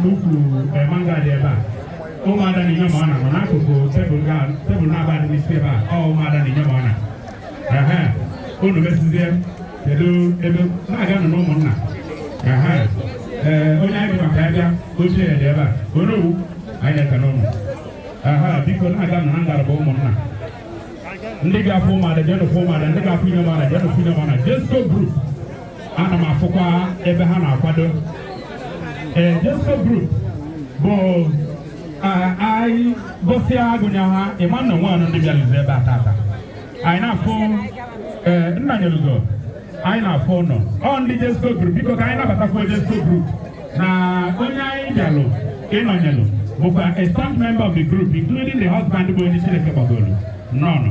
n'ukwu eh, mangad ebe a ụmụada na inyemona nọ n'akụkụ tebụl naabọ a dị n'isi ebe a ọ ụmụada na inyemona unu mesizie kedu ebe na-aga nụ n'ụmụnna ee eh, onye anyị maka ya bịa oche ya dị ebe a Onowu anyị na-ekene unu aha biko na-aga nụ na ngalaba ụmụnna ndị ga-afụ ụmụada jenụ fụ ụmụada ndị ga-afụ inyemona jenụ fụ inyemona Jezco group ana m afụkwa ebe ha na-akwado ee Jezco group bụ anyị gụsịa agụnye ha ịma na o nwenụ ndị bịalizi ebe a tata anyị na-afụ ee Nnanyelugo anyị na-afụ unu o ndị Jezco group biko ka anyị nabatakwa Jezco group na onye anyị bịalụ ịnọnyelụ bụkwa a staff member of the group including the husband bụ onye Chineke kpọgoolu nnọọnụ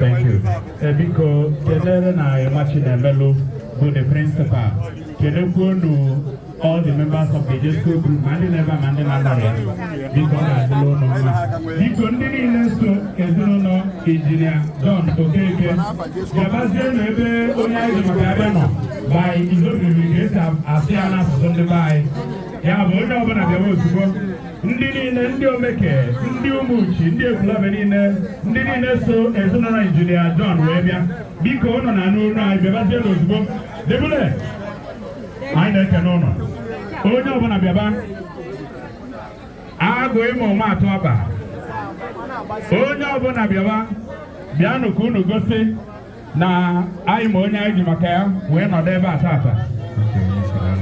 Thank you. Eh, biko kenelụ nna anyị ọma Chinemelu bụ the principal kenekwuonu all the members of the Jezco group ma ndị nọ ebe a ma ndị na-anọrọ ya biko ọ ga-adịlị unu mma biko ndị niile so ezinụlọ injinia John Okeke gabazienụ ebe onye anyị ji maka ya bịa nọ by izobiri ka esi asị ya n'asụsụ ndị be anyị ya bụ onye ọbụla bịawa ozugbo ndị niile ndị Omeke ndị Umuchi ndị Ekwulobia niile ndị niile so ezinụlọ injinia John wee bịa biko unu na-anụ olu anyị bịabazienụ ozugbo debule anyị na-ekene unu onye ọbụla bịaba agụ ịma ụma atụ ọba onye ọbụla bịaba bịanụ ka unu gosi na anyị ma onye anyị ji maka ya wee nọdụ ebe a tata